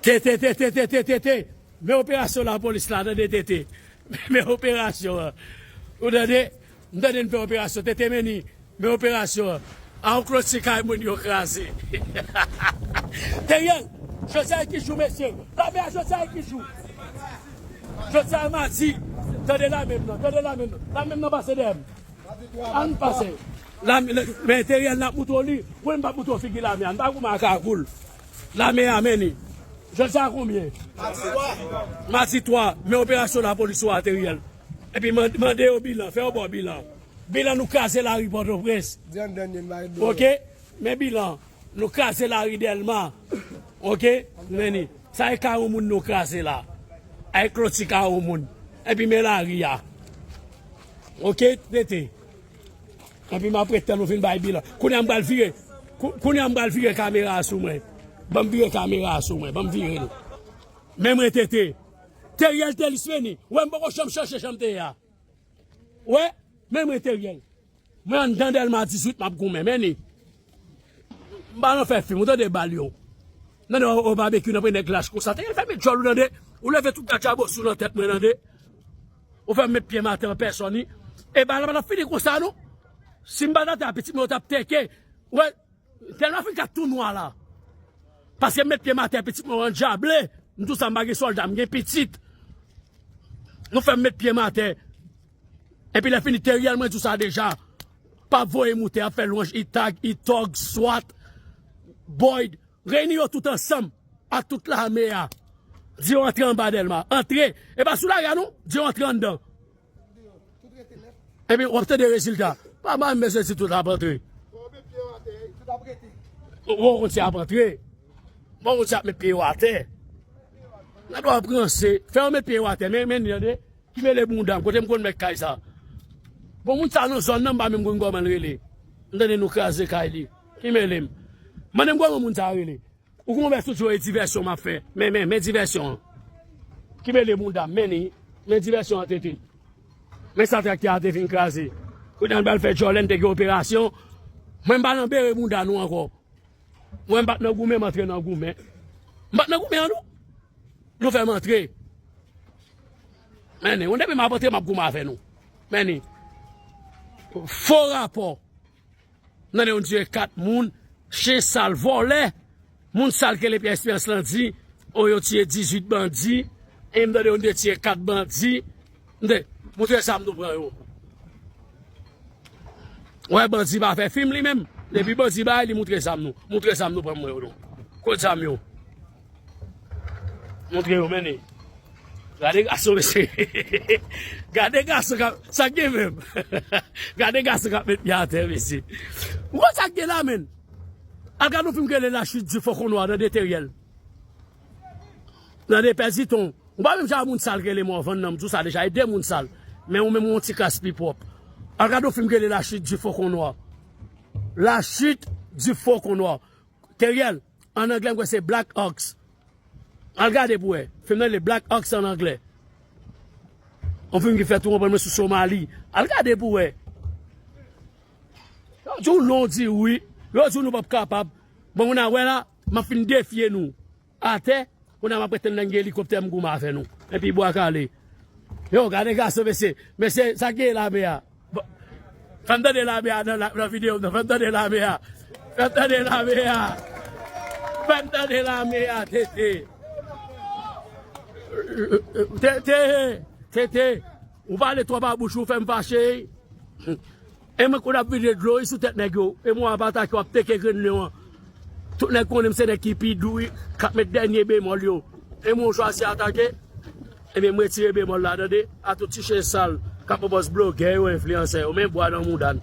Tete tete tete tete men operasyon lapolis la tande tete men operasyon an ou tande m tande n fè operasyon tete meni men operasyon an a ou kloti kay moun yo kraze hahahaa Teriel jodi a ki jou mesye lame a jodi a ki jou jodi a madi tande lame m nan tande lame m nan lame m nan pase dèyè m an n pase. Lame nan men Teriel nap moutre w li wi m pap moutre w figi lame a m pa goumen ak ragoul lame a men li jodi a konbyen madi 3 men operasyon lapolis ou a Teriel epi mande yo bilan fè yo ba w bilan bilan nou kraze lari pòtoprens ok men bilan nou kraze lari delma ok men li sa e kay on moun nou kraze la a e kloti kay on moun epi men lari a ok tete. Anpi m ap ret tann ou fin bay bilan. Kounye a m pral vire Kounye a m pral vire kamera a sou mwen Ban m vire kamera a sou mwen Ban m vire l Men mwen te te Teriel Telis Meni Ou wè m poko janm chanje jan m te ye a Ou wè Men mwen Teriel Mwen anndan Dèlma 18 m ap goumen Meni M pa nan fè fim ou tande Ba l yon Nan de o babekyou nan pre nèg lach konsa Teriel fèmen djòl ou tande Ou leve tout katchabosou nan tèt mwen tande. Ou fèm met pyem atè an pèsòn wi. E bal la pa tap fini konsa non. Sim pat atè a pitit mwen yo tap tèke. Ou wè tèlman mwen fin ka tou nwa la. Paskem met pyem atè pitit mwen yo andjable. M tou sa m pa gen sòlda m gen pitit. Nou fèm met pyem atè. Epi lè fini Teriel mwen diw sa deja. Pap voye moute ap fè lwanj itag, itog, swat, boyd. Reyini yo tout ansanm ak tout lame a. Di yo antre anba Dèlma. Antre! E pa sou lari a non! Di yo antre anndan. Epi w ap tande rezilta. Pa bay mesye di tout ap antre. Wou konn si y ap antre. Wou konn si y ap met pye yo atè. Lè w ap ranse, fè yo met pye yo atè. Men ni tande, ki mele bounda m. Kote m konn met kay sa. Bon moun sa nan zòn nan m pa menm konn kòman l rele. M tande nou kraze kay li. Ki mele m. Mande m kòman moun sa yo rele. Ou konn wè sou Joe divèsyon m ap fè. Men, men, men divèsyon an. Ki mele mounda m. Men li. Men divèsyon an tete. Men sa traktè a te fin kraze. Kounye a n pral fè djòlè n te gen operasyon. Mwen m pa nan bere mounda nou ankò. Mwen m pa t nan goumen m antre nan goumen. M pa t nan goumen an non. Nou fè m antre. Men li. Bon depi m ap antre m ap goumen avè nou. Men li. Fo rapò. Nan de yon tue 4 moun chen sal vòlè moun sal kele pyè esperans lan di o yo tue 18 bandi em tande yon de tue 4 bandi mde moun tue sam nou pran yo wè bandi pa fè fim li menm depi bandi bay li moutre sam nou moutre sam nou pran mwen yo nou kot zam yo. Montre yo mennen. Gade gason mesye. Gade gason kap. Sa gen menm. Gade gason kap met pye atè mesye. Ou wè sa gen la menn. Al gade yon film ki rele la chute du faucon noir nan 2 Theriel. Nan 2 pè Ziton. Ou pa menm jan a moun sal ki rele Morvan nan. M di w sa deja. E 2 moun sal. Men ou menm ou yon ti kras pi pwòp. Al gade yon film ki rele la chute du faucon noir. La chute du faucon noir. Teriel, an anglè m kwè se Black Ox. Al gade pou wè. Fim nan rele Black Ox an anglè. Yon fim ki fèt ou konprann mwen sou Somali. Al gade pou wè. Yo di w non, di wi. Yo di w nou pap kapab. Bon, nou na wè la, m ap fin defye nou. Atè Kounye a map ret tann lè gen elikoptè m goumen avè nou Epi bwa kale Yow gade gason mesye Mesye sak gen lame a Fèm tande lame a nan video m nan Fèm tande lame a Fèm tande lame a Fèm tande lame a TT TT TT Ou pale twòp a bouch ou fèm fache E mwen konn ap vide dlo wi sou tèt nèg yo e mwen ap atake yo ap teke grenn lion an tout nèg konnen m se nèg ki pi dou wi kap met dènye bemòl yo e mwen chwazi atake ebyen m retire bemòl la tande a tout ti chen sal kap pran pòz blogè yo enfliyansè yo men bwa nan mouda n.